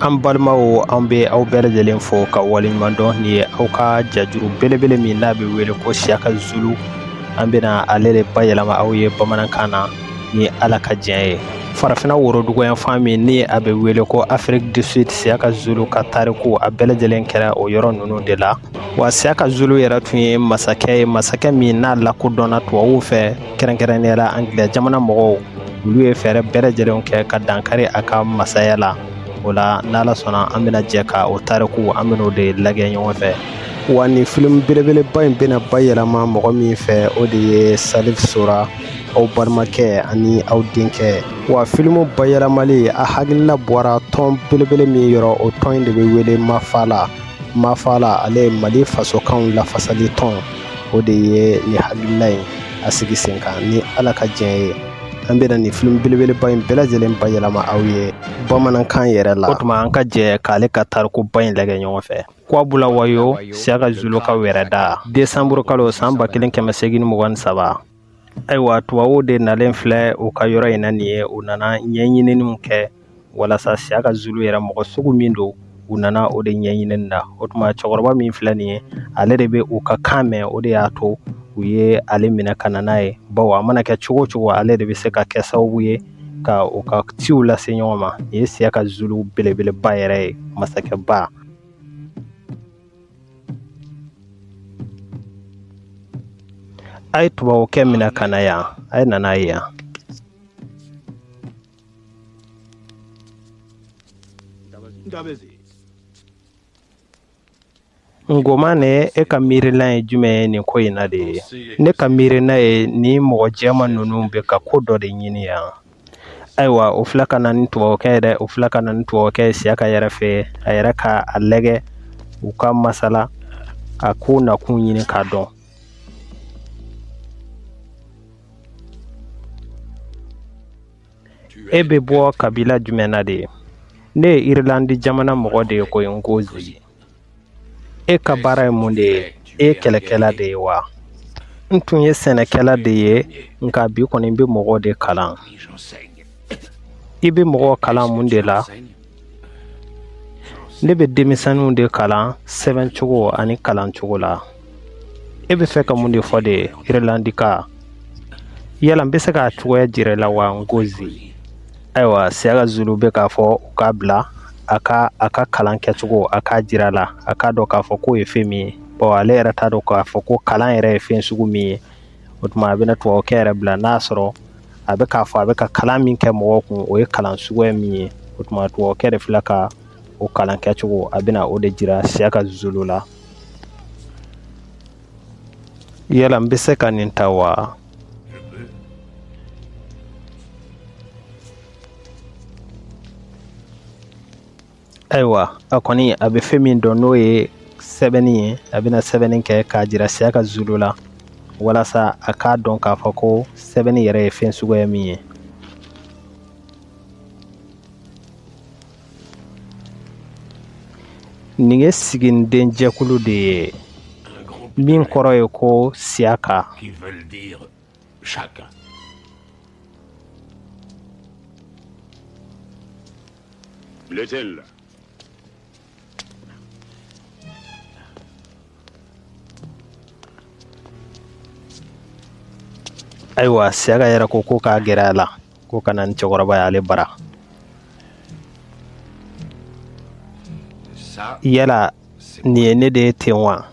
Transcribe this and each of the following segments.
an balimaw an bɛ aw bɛɛ lajɛlen fo ka waleɲuman dɔn nin ye aw ka jajuru belebele min n'a bɛ wele ko siyaka zulu an bɛna ale de bayɛlɛma aw ye bamanankan na ni ala ka diɲɛ ye farafinna woroduguyanfan min ni a bɛ wele ko afiriki du sud siyaka zulu ka tariku a bɛɛ lajɛlen kɛra o yɔrɔ ninnu de la wa siyaka zulu yɛrɛ tun ye masakɛ ye masakɛ min n'a lakodɔnna tubabuw fɛ kɛrɛnkɛrɛnnenya la angilɛ jamana mɔgɔw olu ye fɛɛrɛ bɛɛ lajɛlenw kɛ ka dankari a ka masaya la o la n'ala sɔnna an bɛna jɛ ka o tariku an bɛn'o de lagɛ ɲɔgɔn fɛ wa nin filimu belebeleba in bɛna bayɛlɛma mɔgɔ min fɛ o de ye salif sora aw balimakɛ ani aw denkɛ wa filimu bayɛlɛmali a hakilila bɔra tɔn belebele min yɔrɔ o tɔn in de bɛ wele mafala mafala ale ye mali fasokanw lafasali tɔn o de ye nin hakilila in a sigi sen kan ni ala ka diɲɛ ye an bɛna nin film belebeleba in bɛɛ lajɛlen bayɛlɛma aw ye bamanankan yɛrɛ la o tuma an ka jɛ k'ale ka tarikuba in lagɛ ɲɔgɔn fɛ kwabulawayo siyaka zulu ka wɛrɛda desanburu kalo san ba kelen kɛmɛ segin mugan ni saba Ayiwa tubabuw de nalen filɛ u ka yɔrɔ in na nin ye u nana ɲɛɲininiw kɛ walasa siyaka zulu yɛrɛ mɔgɔ sugu min don u nana o de ɲɛɲinini na o tuma cɛkɔrɔba min filɛ nin ye ale de bɛ u ka kan mɛn o de y'a to u ye ale minɛ ka na n'a ye bawo a mana kɛ cogo o cogo ale de bɛ se ka kɛ sababu ye ka u ka ciw lase ɲɔgɔn ma nin ye siyaka zulu belebeleba yɛrɛ ye masakɛba A ye tubabukɛ minɛ ka na yan a ye na n'a ye yan ngomane e ka miirila ye jumɛn ye nin ko in na de ye ne ka miirina ye nin mɔgɔ jɛman ninnu bɛ ka ko dɔ de ɲini yan ayiwa o filɛ ka na ni tubabukɛ yɛrɛ o filɛ ka na ni tubabukɛ ye siyaka yɛrɛ fɛ a yɛrɛ ka a lagɛ u ka masala k'a ko nakun ɲini k'a dɔn e bɛ bɔ kabila jumɛn na de ye ne ye irilandi jamana mɔgɔ de ye koyi nkozi e ka baara ye mun de ye e ye kɛlɛkɛla de ye wa n tun ye sɛnɛkɛla de ye nka bi kɔni n bɛ mɔgɔw de kalan i bɛ mɔgɔw kalan mun de la ne bɛ denmisɛnninw de kalan sɛbɛncogo ani kalancogo la e bɛ fɛ ka mun de fɔ de irlandika yala n bɛ se k'a cogoya jira i la wa nkozi ayiwa siyaka zulu bɛ k'a fɔ u k'a bila a ka a ka kalan kɛcogo a k'a jira la a k'a dɔn k'a fɔ k'o ye fɛn min ye bɔn ale yɛrɛ t'a dɔn k'a fɔ ko kalan yɛrɛ ye fɛn sugu min ye o tuma a bɛna tubabukɛ yɛrɛ bila n'a sɔrɔ a bɛ k'a fɔ a bɛ ka kalan min kɛ mɔgɔw kun o ye kalan suguya min ye o tuma tubabukɛ de filɛ ka o kalan kɛcogo a bɛna o de jira siyaka zulu la Yala n bɛ se ka nin ta wa? Ayiwa a kɔni a bɛ fɛn min dɔn n'o ye sɛbɛnni ye a bɛna sɛbɛnni kɛ k'a jira Siyaka Zulu la walasa a k'a dɔn k'a fɔ ko sɛbɛnni yɛrɛ ye fɛn suguya min ye Nin ye siginiden jɛkulu de ye min kɔrɔ ye ko siyaka ayiwa siyaka yɛrɛ ko ko k'a gɛrɛ a la ko ka na ni cɛkɔrɔba y'ale bara yala nin ye ne de ye ten wa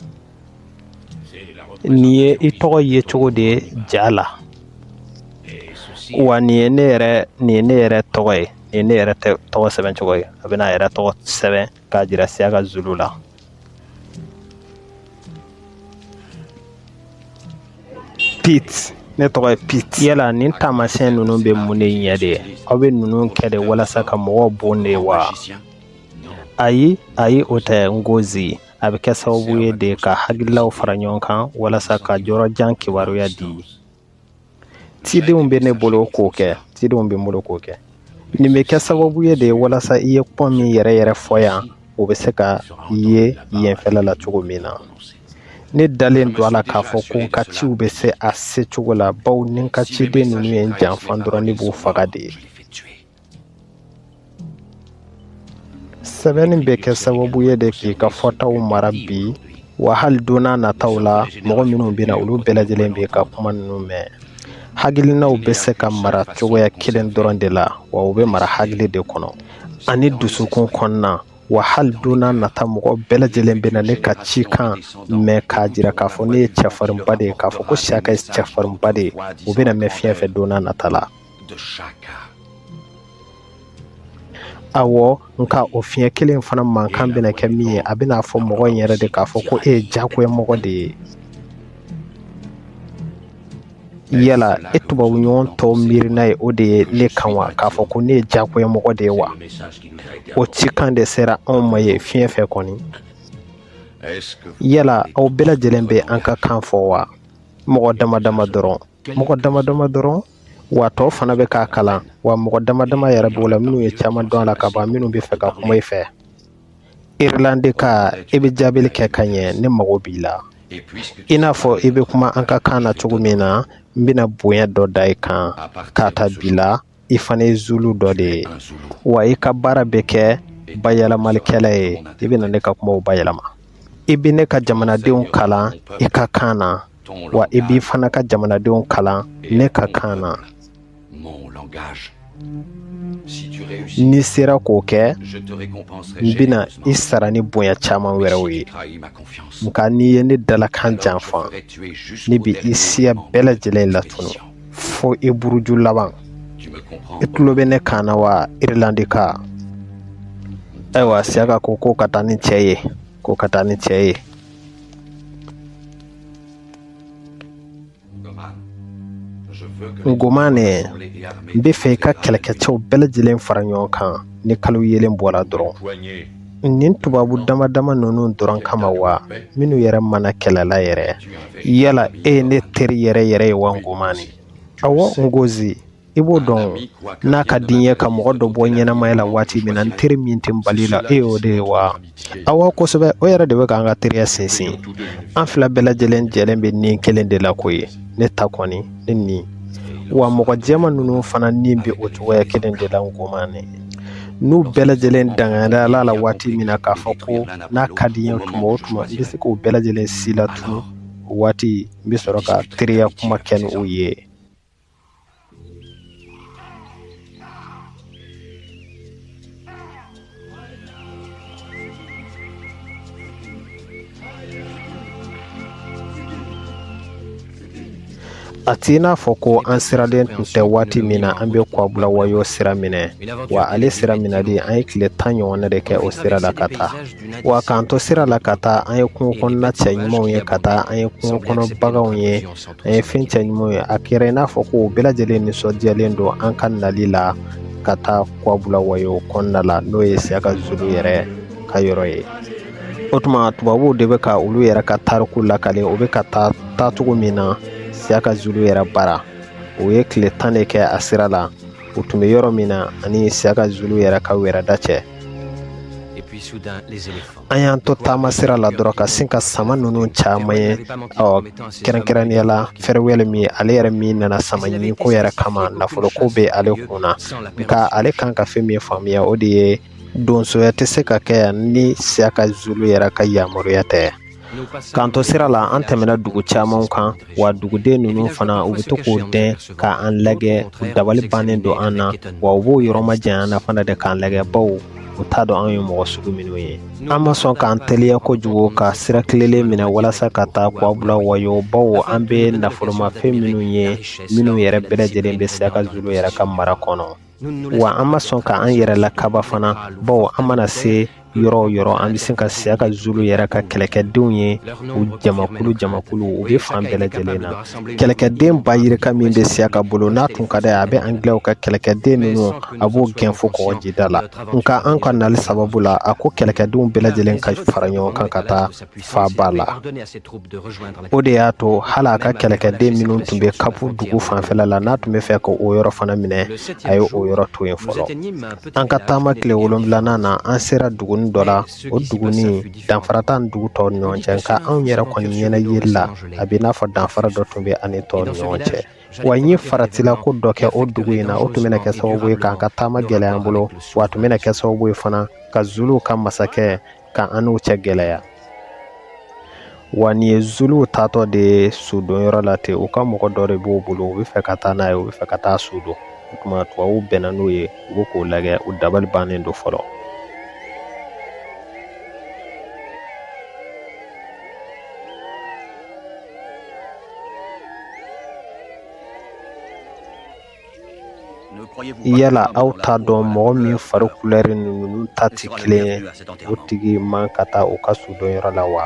nin ye i tɔgɔ ye cogo de ye ja la wa nin ye ne yɛrɛ nin ye ne yɛrɛ tɔgɔ ye nin ye ne yɛrɛ tɔgɔ sɛbɛn cogo ye a bɛna a yɛrɛ tɔgɔ sɛbɛn k'a jira siyaka zulu la Pete ne tɔgɔ ye Pete yala nin taamasiyɛn ninnu bɛ mun de ɲɛ de aw bɛ ninnu kɛ de walasa ka mɔgɔw bon de wa ayi ayi o tɛ Nkozi a bɛ kɛ sababu ye de ka hakililaw fara ɲɔgɔn kan walasa ka yɔrɔjan kibaruya di cidenw bɛ ne bolo k'o kɛ cidenw bɛ n bolo k'o kɛ nin bɛ kɛ sababu ye de walasa i ye kuma min yɛrɛ yɛrɛ fɔ yan o bɛ se ka ye yenfɛla la cogo min na ne dalen don a la k'a fɔ ko n ka ciw bɛ se a se cogo la bawo ni n ka ciden ninnu ye n janfa dɔrɔn ne b'u faga de ye sɛbɛnni bɛ kɛ sababu ye de k'i ka fɔtaw mara bi wa hali donna nataw la mɔgɔ minnu bɛ na olu bɛɛ lajɛlen b'i ka kuma ninnu mɛn hakilinaw bɛ se ka mara cogoya kelen dɔrɔn de la wa u bɛ mara hakili de kɔnɔ ani dusukun kɔnɔna wa hali donna nata mɔgɔ bɛɛ lajɛlen bɛna ne ka cikan mɛn k'a jira k'a fɔ ne ye cɛfarinba de ye k'a fɔ ko siyaka ye cɛfarinba de ye u bɛna mɛn fiɲɛ fɛ donna nata la de chacun. awɔ nka o fiɲɛ kelen in fana mankan bɛna kɛ min ye a bɛna fɔ mɔgɔ in yɛrɛ de k'a fɔ ko e ye jagoya mɔgɔ de ye yala e tubabu ɲɔgɔn tɔw miirina ye o de ye ne kan wa k'a fɔ ko ne ye jagoya mɔgɔ de ye wa o cikan de sera anw ma ye fiɲɛ fɛ kɔni yala aw bɛɛ lajɛlen bɛ an ka kan fɔ wa mɔgɔ dama dama dɔrɔn mɔgɔ dama dama dɔrɔn wa tɔw fana bɛ k'a kalan wa mɔgɔ dama dama yɛrɛ b'o la minnu ye caman dɔn a la ka ban minnu bɛ fɛ ka kuma i fɛ irilandika i bɛ jaabili kɛ ka ɲɛ ne mago b'i la i n'a fɔ i bɛ kuma an ka kan na cogo min na n bɛna bonya dɔ da i kan k'a ta bi la i fana ye zulu dɔ de ye wa i ka baara bɛ kɛ bayɛlɛmalikɛla ye i bɛna ne ka kumaw bayɛlɛma i bɛ ne ka jamanadenw kalan i ka kan na wa i b'i fana ka jamanadenw kalan ne ka kan na n'i sera k'o kɛ n bɛna i sara ni bonya caman wɛrɛw ye nka n'i ye ne dalakan janfa ne bɛ i siya bɛɛ lajɛlen latunu fo i buruju laban i tulo bɛ ne kan na wa irilandika ayiwa siyaka ko ko ka taa ni cɛ ye ko ka taa ni cɛ ye ngomane n bɛ fɛ i ka kɛlɛkɛcɛw bɛɛ lajɛlen fara ɲɔgɔn kan ni kalo yelen bɔra dɔrɔn nin tubabu dama dama ninnu dɔrɔn kama wa minnu yɛrɛ ma na kɛlɛ la yɛrɛ yala e ye ne teri yɛrɛ yɛrɛ ye wa ngomane awa ngozi i b'o dɔn n'a ka di n ye ka mɔgɔ dɔ bɔ ɲɛnamaya la waati min na n teri min tɛ n bali la e y'o de ye wa awa kosɛbɛ o yɛrɛ de bɛ k'an ka teriya sinsin an fila bɛɛ lajɛlen jɛlen bɛ ni kelen de la k'o ye ne ta kɔni ne ni wa mɔgɔ jɛman ninnu fana ni bɛ o cogoya kelen de la ngomane n'u bɛɛ lajɛlen dangada ala la waati min na k'a fɔ ko n'a ka di n ye tuma o tuma n bɛ se k'o bɛɛ lajɛlen si latunu o waati n bɛ sɔrɔ ka teriya kuma kɛ ni o ye a t'i n'a fɔ ko an siralen tun tɛ waati min na an bɛ kwabula wayo sira minɛ wa ale sira minɛli an ye tile tan ɲɔgɔnna de kɛ o sira la ka taa wa k'an to sira la ka taa an ye kungo kɔnɔna cɛɲumanw ye ka taa an ye kungo kɔnɔ baganw ye an ye fɛn cɛɲumanw ye a kɛra i n'a fɔ ko o bɛɛ lajɛlen nisɔndiyalen don an ka nali la ka taa kwabula wayo kɔnɔna la n'o ye siyaka zulu yɛrɛ ka yɔrɔ ye o tuma tubabuw de bɛ ka olu yɛrɛ ka tariku lakale u bɛ ka taa taacogo min na siyaka zulu yɛrɛ bara u ye tile tan de kɛ a sira la u tun bɛ yɔrɔ min na ani siyaka zulu yɛrɛ ka wɛrɛda cɛ an y'an to taama sira la dɔrɔn ka sin ka sama ninnu caman ye ɔ kɛrɛnkɛrɛnnenya la fɛrɛwɛl min ale yɛrɛ min nana samaɲinko yɛrɛ kama nafoloko bɛ ale kun na nka ale kan ka fɛn min faamuya o de ye donsoya tɛ se ka kɛ yan ni siyaka zulu yɛrɛ ka yamaruya tɛ k'an to sira la an tɛmɛna dugu camanw kan wa duguden ninnu fana u bɛ to k'u dɛn ka an lajɛ u dabali bannen don an na wa u b'u yɔrɔ majanya an na fana de k'an lajɛ baw u t'a dɔn an ye mɔgɔ sugu minnu ye an ma sɔn k'an teliya kojugu ka sira tilelen minɛ walasa ka taa kuwabulawayo baw an bɛ nafolomafɛn minnu ye minnu yɛrɛ bɛɛ lajɛlen bɛ siyaka zulu yɛrɛ ka mara kɔnɔ wa an ma sɔn ka an yɛrɛ lakaba fana baw an mana se yɔrɔ o yɔrɔ an bɛ se ka siyaka zulu yɛrɛ ka kɛlɛkɛdenw ye u jamakulu jamakulu u bɛ fan bɛɛ lajɛlen na kɛlɛkɛden ba yirika min bɛ siyaka bolo n'a tun ka d'a ye a bɛ angilɛw ka kɛlɛkɛden ninnu a b'u gɛn fo kɔgɔjida la nka an ka nali sababu la a ko kɛlɛkɛdenw bɛɛ lajɛlen ka fara ɲɔgɔn kan ka taa faaba la o de y'a to hali a ka kɛlɛkɛden minnu tun bɛ kapu dugu fanfɛla la n'a tun bɛ fɛ ka o yɔrɔ fana minɛ a ye o yɔrɔ to yen fɔlɔ an ka taama tile wolonwulanan na an sera duguni dɔ la o duguni danfara t'a ni dugu tɔw ni ɲɔgɔn cɛ nka anw yɛrɛ kɔni ɲɛna yeli la a bɛ i n'a fɔ danfara dɔ tun bɛ a ni tɔw ni ɲɔgɔn cɛ wa n ye faratila ko dɔ kɛ o dugu in na o tun bɛna kɛ sababu ye k'an ka taama gɛlɛya an bolo wa a tun bɛna kɛ sababu ye fana ka zuluw ka masakɛ ka an n'u cɛ gɛlɛya wa nin ye zuluw taatɔ de ye sudonyɔrɔ la ten u ka mɔgɔ dɔ de b'u bolo u bɛ fɛ ka taa n'a ye u bɛ fɛ ka taa su don o tuma tubabuw bɛnna n'u ye u bɛ k'o lajɛ u dabali bannen don fɔlɔ Yala aw t'a dɔn mɔgɔ min fari kulɛri ni ninnu ta tɛ kelen o tigi man ka taa u ka sudonyɔrɔ la wa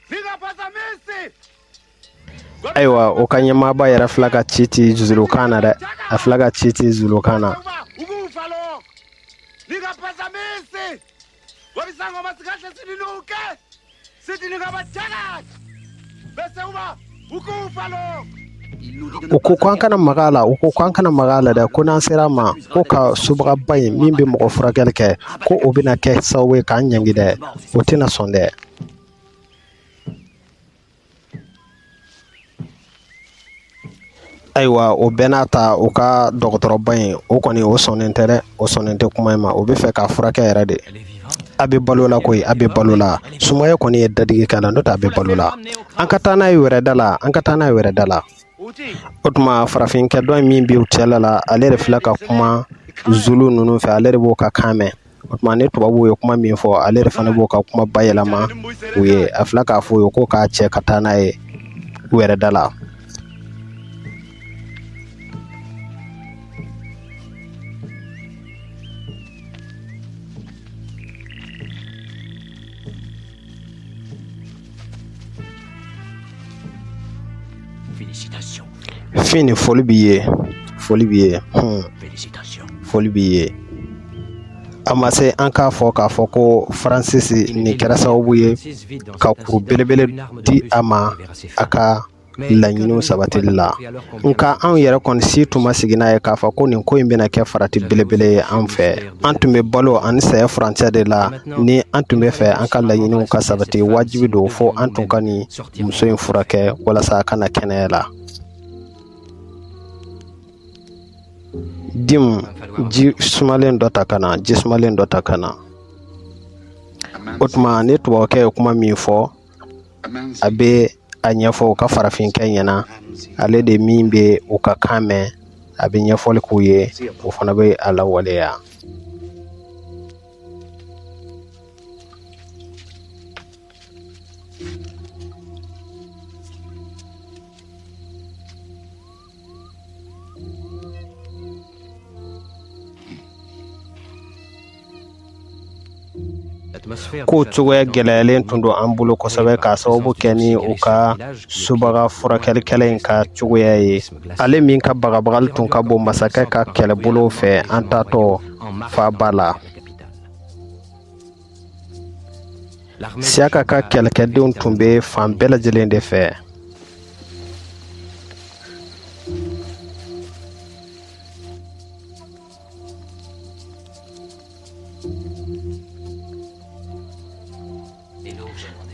ayiwa u ka ɲɛmaaba yɛrɛ fila ka ci ti zulukan na dɛ a fila ka ci ti zulukan na u ko ko an kana maga a la u ko ko an kana maga a la dɛ ko n'an sera a ma k'u ka subagaba in min bɛ mɔgɔ furakɛli kɛ ko o bɛna kɛ sababu ye k'an ɲangi dɛ o tɛna sɔn dɛ Ayiwa o bɛɛ n'a ta u ka dɔgɔtɔrɔba in o kɔni o sɔnnen tɛ dɛ o sɔnnen tɛ kuma in ma o bɛ fɛ k'a furakɛ yɛrɛ de a bɛ balo la ko a bɛ balo la sumaya kɔni ye dadigi k'a la n'o tɛ a bɛ balo la an ka taa n'a ye wɛrɛ da la an ka taa n'a ye wɛrɛ da la o tuma farafinkɛ dɔ min b'u cɛla la ale de filɛ ka kuma zulu ninnu fɛ ale de b'o ka kan mɛn O tuma ni tubabu ye kuma min fɔ ale de fana b'o ka kuma bayɛlɛma u ye a filɛ k'a fɔ u ye ko k'a cɛ ka taa n'a ye wɛrɛ da la Fini foli b'i ye foli b'i ye foli b'i ye a ma se an k'a fɔ k'a fɔ ko Francis nin kɛra sababu ye ka kuru belebele di a ma a ka laɲiniw sabatili la nka anw yɛrɛ kɔni si tun ma sigi n'a ye k'a fɔ ko nin ko in bɛna kɛ farati belebele ye an fɛ an tun bɛ balo ani saya furancɛ de la ni an tun bɛ fɛ an ka laɲiniw ka sabati wajibi don fo an tun ka nin muso in furakɛ walasa a ka na kɛnɛya la dim ji sumalen dɔ ta ka na ji sumalen dɔ ta ka na o tuma ni tubabukɛ ye kuma min fɔ a bɛ a ɲɛfɔ u ka farafinkɛ ɲɛna ale de min bɛ u ka kan mɛn a bɛ ɲɛfɔli k'u ye u fana bɛ a lawaleya ko cogoya gɛlɛyalen tun don an bolo kosɛbɛ k'a sababu kɛ ni u ka subaga furakɛlikɛla in ka cogoya ye ale min ka bagabagali tun ka bon masakɛ ka kɛlɛbolow fɛ an taatɔ faaba la Siyaka ka kɛlɛkɛdenw tun bɛ fan bɛɛ lajɛlen de fɛ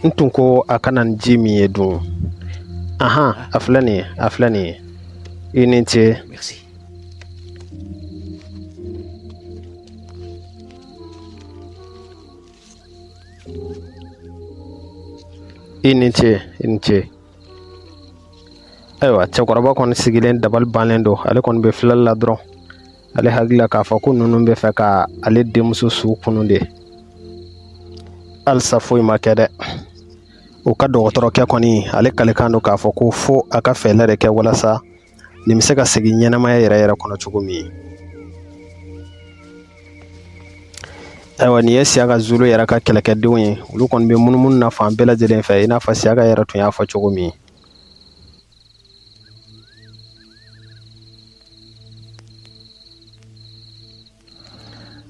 n tun ko a ka na ni ji min ye dun anhan a filɛ nin ye a filɛ nin ye i ni ce i ni ce i ni ce ayiwa cɛkɔrɔba kɔni sigilen dabali bannen don ale kɔni bɛ filɛli la dɔrɔn ale hakili la k'a fɔ ko ninnu bɛ fɛ ka ale denmuso su kunu de halisa foyi ma kɛ dɛ u ka dɔgɔtɔrɔkɛ kɔni ale kalikan don k'a fɔ ko fo a ka fɛɛlɛ de kɛ walasa nin bɛ se ka segin ɲɛnamaya yɛrɛ yɛrɛ kɔnɔ cogo min ayiwa nin ye siyaka zulu yɛrɛ ka kɛlɛkɛdenw ye olu kɔni bɛ munumunu na fan bɛɛ lajɛlen fɛ i n'a fɔ siyaka yɛrɛ tun y'a fɔ cogo min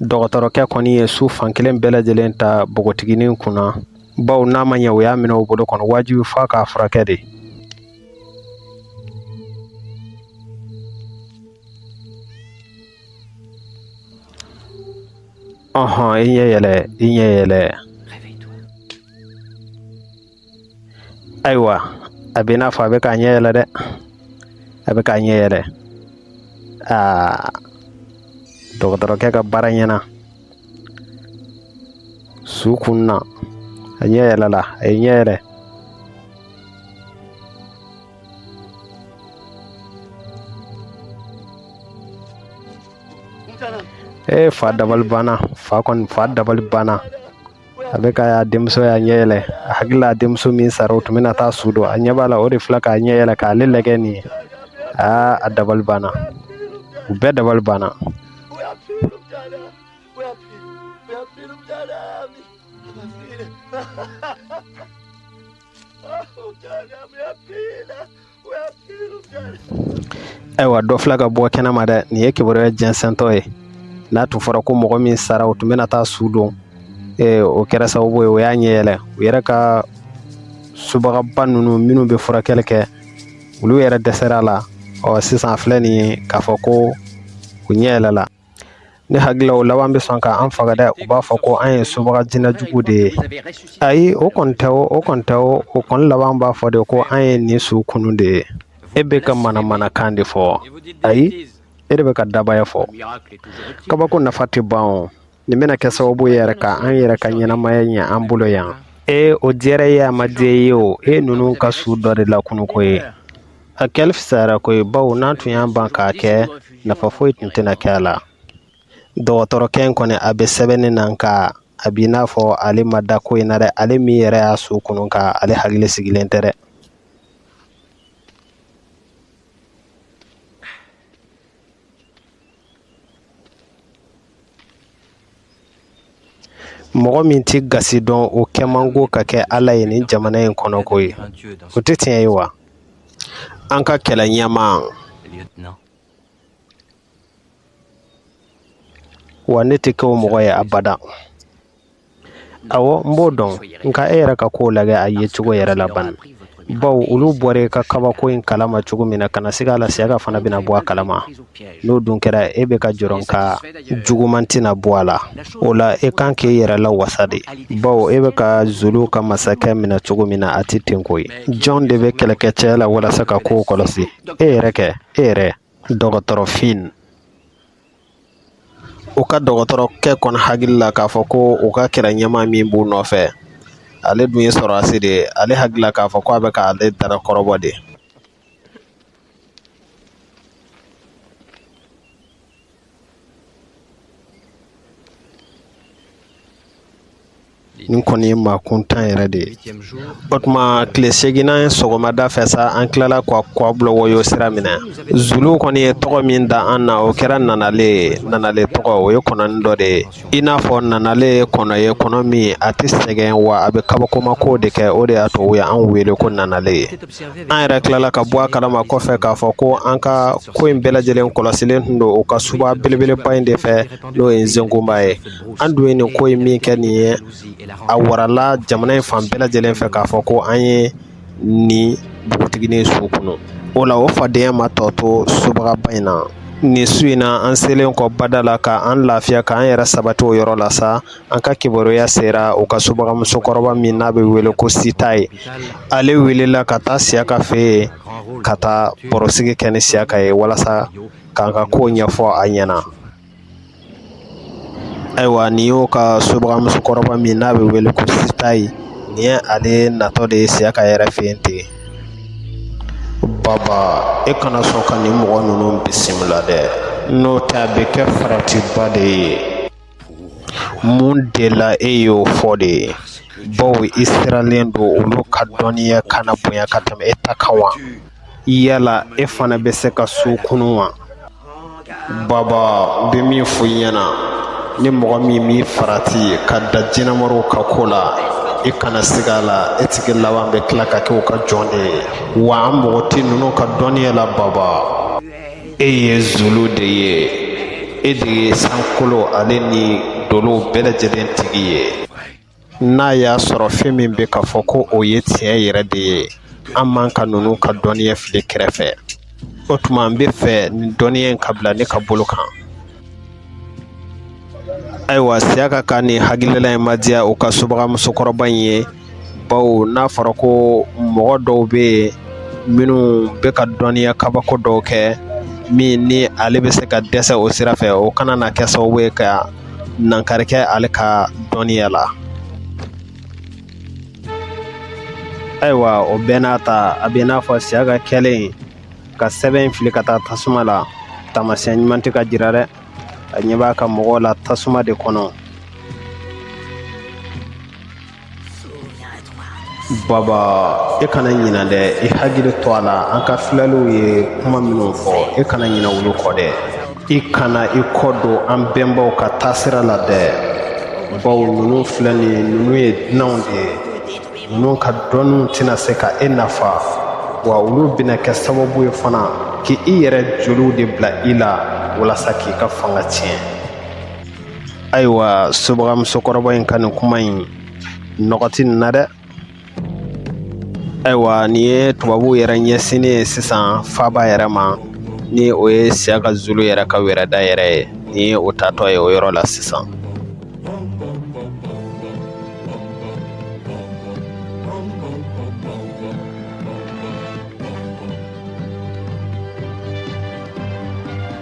dɔgɔtɔrɔkɛ kɔni ye su fan kelen bɛɛ lajɛlen ta npogotiginin kunna bawo n'a ma ɲɛ o y'a minɛ o bolo kɔnɔ wajibi fo a k'a furakɛ de ɔɔn i ɲɛ yɛlɛ i ɲɛ yɛlɛ ayiwa a b'i n'a fɔ a bɛ k'a ɲɛ yɛlɛ dɛ a bɛ k'a ɲɛ yɛlɛ aa dɔgɔtɔrɔkɛ ka baara ɲɛna su kunna a ɲɛ yɛlɛla a ye ɲɛ yɛlɛ ee fa dabali banna fa kɔni fa dabali banna a bɛ k'a ye a denmuso y'a ɲɛ yɛlɛ a hakili la denmuso min sara u tun bɛna taa su don a ɲɛ b'a la o de filɛ k'a ɲɛ yɛlɛ k'ale lajɛ nin ye aa a dabali banna u bɛɛ dabali banna ayiwa dɔ filɛ ka bɔ kɛnɛ ma dɛ nin ye kibaruya jɛnsɛntɔ ye n'a tun fɔra ko mɔgɔ min sara u tun bɛna taa su don ee, o kɛra sababu ye o y'a ɲɛ yɛlɛ u yɛrɛ ka subagaba ninnu minnu bɛ furakɛli kɛ olu yɛrɛ dɛsɛra a la ɔ sisan a filɛ nin ye k'a fɔ ko u ɲɛ yɛlɛla Ne hakili la o laban bɛ sɔn k'an faga dɛ u b'a fɔ ko an ye subaga jinɛ jugu de ye ayi o kɔni tɛ o o kɔni tɛ o o kɔni laban b'a fɔ de ko an ye nin su kunun de ye e bɛ ka manamanakan de fɔ ayi e de bɛ ka dabaya fɔ kabako nafa tɛ ban o nin bɛna kɛ sababu ye yɛrɛ ka an yɛrɛ ka ɲɛnamaya ɲɛ an bolo yan e o diyara ye a ma diya ye o e ninnu ka su dɔ de lakunu koyi A kɛli fisayara koyi bawo n'an tun y'an ban k'a kɛ nafa foyi tun tɛna kɛ a la dɔgɔtɔrɔkɛ in kɔni a bɛ sɛbɛnni na nka a b'i n'a fɔ ale ma da ko in na dɛ ale min yɛrɛ y'a su kunu ka ale hakili sigilen tɛ dɛ mɔgɔ min tɛ gasi dɔn o kɛ man go ka kɛ ala ye nin jamana in kɔnɔ koyi o tɛ tiɲɛ ye wa an ka kɛlɛ ɲɛmaa wa ne tɛ kɛ o mɔgɔ ye abada Ɔwɔ n b'o dɔn nka e yɛrɛ ka kow lajɛ a ye cogo yɛrɛ la ban baw olu bɔra i ka kabako in kalama cogo min na kana siga a la siyaka fana bɛna bɔ a kalama n'o dun kɛra e bɛ ka jɔrɔ ka juguman tɛna bɔ a la o la e kan k'i yɛrɛ lawasa de baw e bɛ ka zulu ka masakɛ minɛ cogo min na a tɛ ten koyi jɔn de bɛ kɛlɛkɛcɛ la walasa ka kow kɔlɔsi e yɛrɛ kɛ e yɛrɛ dɔgɔtɔrɔ fin U ka dɔgɔtɔrɔkɛ kɔni hakili la k'a fɔ ko u ka kɛlɛ ɲɛmaa min b'u nɔfɛ ale dun ye sɔrɔdasi de ye ale hakili la k'a fɔ k' a bɛ k'ale dara kɔrɔbɔ de nin kɔni ye maa kuntan yɛrɛ de ye o tuma tile seginnan sɔgɔmada fɛ sa an tilala ka kwa bulawayo sira minɛ zuluw kɔni ye tɔgɔ min da an na o kɛra nanalen ye nanalen tɔgɔ o ye kɔnɔni dɔ de ye i n'a fɔ nanalen ye kɔnɔ ye kɔnɔ min a tɛ sɛgɛn wa a bɛ kabakomako de kɛ o de y'a to u ye an wele ko nanalen ye an yɛrɛ tilala ka bɔ a kalama kɔfɛ k'a fɔ ko an ka ko in bɛɛ lajɛlen kɔlɔsilen tun don u ka suba belebeleba in de fɛ n'o ye n sengoba ye an dun ye nin ko in min kɛ nin ye a warala jamana in fan bɛɛ lajɛlen fɛ k'a fɔ ko an ye nin npogotiginin su kunun o la o fadenya ma tɔ to subagaba in na nin su in na an selen kɔ bada la ka an lafiya k'an yɛrɛ sabati o yɔrɔ la sa an ka kibaruya sera u ka subagamusokɔrɔba min n'a bɛ wele ko sitayi ale welela ka taa siyaka fɛ yen ka taa barosigi kɛ ni siyaka ye walasa k'an ka kow ɲɛfɔ a ɲɛna Ayiwa nin y'u ka subagamusokɔrɔba min n'a bɛ wele ko sitayi nin ye ale natɔ de ye siyaka yɛrɛ fɛ yen ten baba e kana sɔn ka nin mɔgɔ ninnu bisimila dɛ n'o tɛ a bɛ kɛ faratiba de ye mun de la e y'o fɔ de ye baw i siralen don olu ka dɔnniya kana bonya ka tɛmɛ e ta kan wa yala e fana bɛ se ka su kunun wa baba bɛ min fɔ i ɲɛna ni mɔgɔ min b'i farati ka da jinɛmoriw ka ko la i kana siga a la e tigi laban bɛ tila ka kɛ u ka jɔn de ye wa an mɔgɔ tɛ ninnu ka dɔnniya la baba e ye zulu de ye e de ye sankolo ale ni dolow bɛɛ lajɛlen tigi ye n'a y'a sɔrɔ fɛn min bɛ ka fɔ ko o ye tiɲɛ yɛrɛ de ye an man ka ninnu ka dɔnniya fili kɛrɛfɛ o tuma an bɛ fɛ nin dɔnniya in ka bila ne ka bolo kan ayiwa siyaka ka nin hakilila in ma diya u ka subaga musokɔrɔba in ye bawo n'a fɔra ko mɔgɔ dɔw bɛ yen minnu bɛ ka dɔnniya kabako dɔw kɛ min ni ale bɛ se ka dɛsɛ o sira fɛ o kana na kɛ sababu ye ka dankari kɛ ale ka dɔnniya la ayiwa o bɛɛ n'a ta a bɛ n'a fɔ siyaka kɛlen ka sɛbɛn fili ka taa tasuma la taamasiyɛn ɲuman tɛ ka jira dɛ a ɲɛ b'a ka mɔgɔw la tasuma de kɔnɔ Baba e kana ɲina dɛ i hakili to a la an ka filaliw ye kuma minnu fɔ e kana ɲina olu kɔ dɛ i kana i kɔ don an bɛnbaw ka taasira la dɛ bawo ninnu filɛ nin ninnu ye dunanw de ye ninnu ka dɔnniw tɛna se ka e nafa wa olu bɛna kɛ sababu ye fana k' i yɛrɛ joliw de bila i la walasa k'i ka fanga tiɲɛ ayiwa subaga musokɔrɔba in ka nin kuma in nɔgɔ tɛ nin na dɛ ayiwa nin ye tubabuw yɛrɛ ɲɛsinnen ye sisan faaba yɛrɛ ma ni o ye siyaka zulu yɛrɛ ka wɛrɛda yɛrɛ ye nin ye o taatɔ ye o yɔrɔ la sisan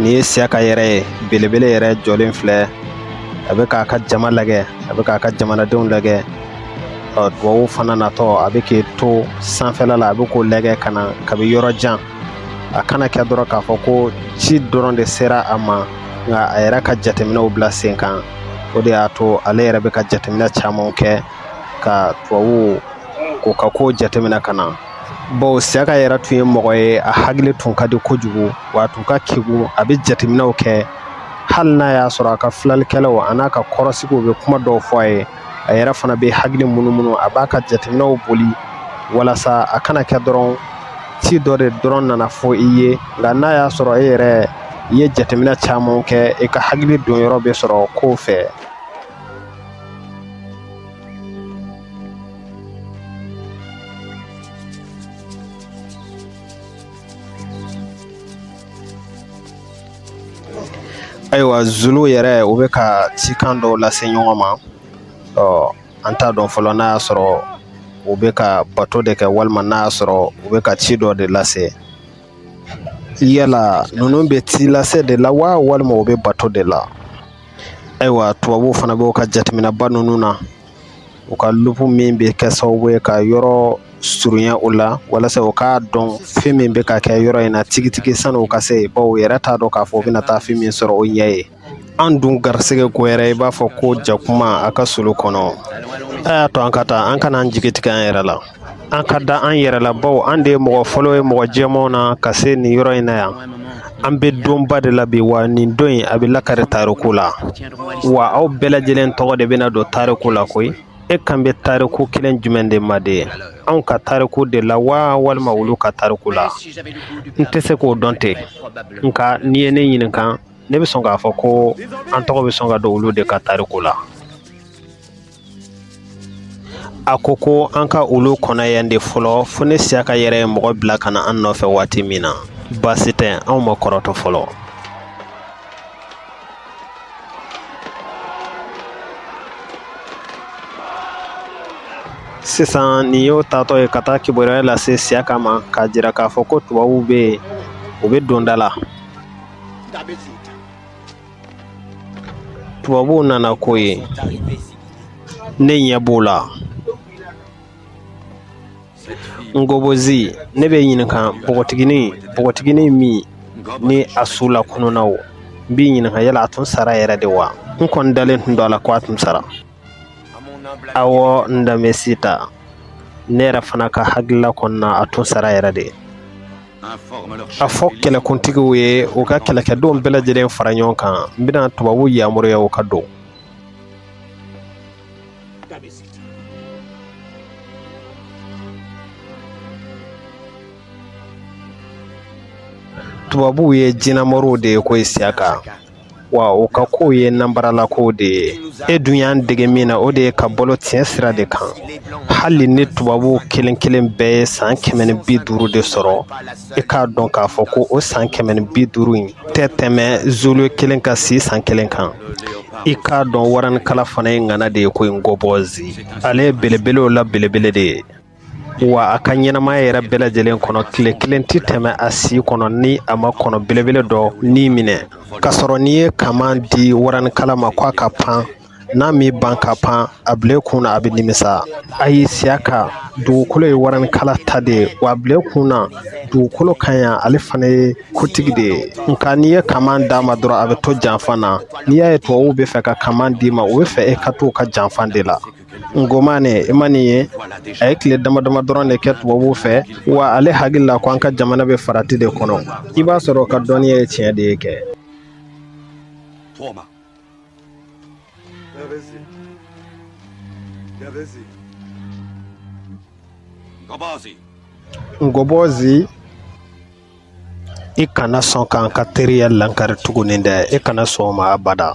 Nin ye siyaka yɛrɛ ye belebele yɛrɛ jɔlen filɛ a bɛ k'a ka jama lajɛ a bɛ k'a ka jamanadenw lajɛ ɔ tubabuw fana natɔ a bɛ k'i to sanfɛla la a bɛ k'o lajɛ ka na kabi yɔrɔ jan a kana kɛ dɔrɔn k'a fɔ ko ci dɔrɔn de sera a ma nka a yɛrɛ ka jateminɛw bila sen kan o de y'a to ale yɛrɛ bɛ ka jateminɛ camanw kɛ ka tubabuw k'u ka kow jateminɛ ka na bawo siyaka yɛrɛ tun ye mɔgɔ ye a hakili tun ka di kojugu wa a tun ka kegun a bɛ jateminɛw kɛ hali n'a y'a sɔrɔ a ka filalikɛlaw a n'a ka kɔrɔsigiw bɛ kuma dɔw fɔ a ye a yɛrɛ fana bɛ hakili munumunu a b'a ka jateminɛw boli walasa a kana kɛ dɔrɔn ci dɔ de dɔrɔn nana fɔ i ye nka n'a y'a sɔrɔ e yɛrɛ i ye jateminɛ caman kɛ i ka hakili don yɔrɔ bɛ sɔrɔ kow fɛ Ayiwa zulu yɛrɛ u bɛ ka cikan dɔw lase ɲɔgɔn ma ɔ an t'a dɔn fɔlɔ n'a y'a sɔrɔ u bɛ ka bato de kɛ walima n'a y'a sɔrɔ u bɛ ka ci dɔ de lase yala ninnu bɛ ci lase de la wa walima u bɛ bato de la ayiwa tubabuw fana b'u ka jateminɛba ninnu na u ka lupu min bɛ kɛ sababu ye ka yɔrɔ surunya u la walasa u k'a dɔn fɛn min bɛ ka kɛ yɔrɔ in na tigitigi sani u ka se bawo u yɛrɛ t'a dɔn k'a fɔ u bɛna taa fɛn min sɔrɔ u ɲɛ yen an dun garisɛgɛ ko yɛrɛ i b'a fɔ ko jakuma a ka solo kɔnɔ a y'a to an ka taa an kana an jigi tigɛ an yɛrɛ la an ka da an yɛrɛ la bawo an de ye mɔgɔ fɔlɔ ye mɔgɔ jɛmanw na ka se nin yɔrɔ in na yan an bɛ donba de la bi wa nin don in a bɛ lakari tariku la wa aw bɛɛ lajɛlen tɔgɔ de bɛna don tariku la koyi e kan bɛ tariku kelen jumɛn de ma de anw ka tariku de la wa walima olu ka tariku la n tɛ se k'o dɔn ten nka n'i ye ne ɲininka ne bɛ sɔn k'a fɔ ko an tɔgɔ bɛ sɔn ka don olu de ka tariku la a ko ko an ka olu kɔnɔ yan de fɔlɔ fo ni siyaka yɛrɛ ye mɔgɔ bila ka na an nɔfɛ waati min na baasi tɛ anw ma kɔrɔtɔ fɔlɔ sisan nin y'o taatɔ ye ka taa kibaruya lase siyaka ma k'a jira k'a fɔ ko tubabuw bɛ yen u bɛ donda la tubabuw nana koyi ne ɲɛ b'u la ngobozi ne b'i ɲininka npogotigini npogotigini min ni a su lakununna o n b'i ɲininka yala a tun sara yɛrɛ de wa n kɔni dalen tun don a la ko a tun sara awɔ ndabesita ne yɛrɛ fana ka hakilila kɔnɔna a tun sara yɛrɛ de A fɔ kɛlɛkuntigiw ye u ka kɛlɛkɛdenw bɛɛ lajɛlen fara ɲɔgɔn kan n bɛna tubabuw yamaruya u ka don tubabuw ye jinɛmoriw de ye ko siyaka wa u ka kow ye nanbaralakow de ye e dun y'an dege min na o de ye ka balo tiɲɛ sira de kan hali ni tubabuw kelen kelen bɛɛ ye san kɛmɛ ni bi duuru de sɔrɔ i k'a dɔn k'a fɔ ko o san kɛmɛ ni bi duuru in tɛ tɛmɛ zulu kelen ka si san kelen kan i k'a dɔn waranikala fana ye ŋana de ye ko ngobozi ale ye belebelew la belebele de ye wa a ka ɲɛnamaya yɛrɛ bɛɛ lajɛlen kɔnɔ tile kelen tɛ tɛmɛ a si kɔnɔ ni a ma kɔnɔ belebele dɔ ni minɛ k'a sɔrɔ n'i ye kaman di waranikala ma ko a ka pan n'a m'i ban ka pan a bila kun na a bɛ nimisa ayi Siyaka dugukolo ye waranikala ta de ye wa a bila kun na dugukolo ka ɲi ale fana ye kotigi de ye nka n'i ye kaman d'a ma dɔrɔn a bɛ to janfa na n'i y'a ye tubabuw bɛ fɛ ka kaman d'i ma u bɛ fɛ e ka to u ka janfa de la Ngomane i ma nin ye a ye tile dama dama dɔrɔn de kɛ tubabuw fɛ wa ale hakili la ko an ka jamana bɛ farati de kɔnɔ i b'a sɔrɔ a ka dɔnniya ye tiɲɛ de ye kɛ Ngobɔzi i kana sɔn k'an ka teriya lankari tuguni dɛ i kana sɔn o ma abada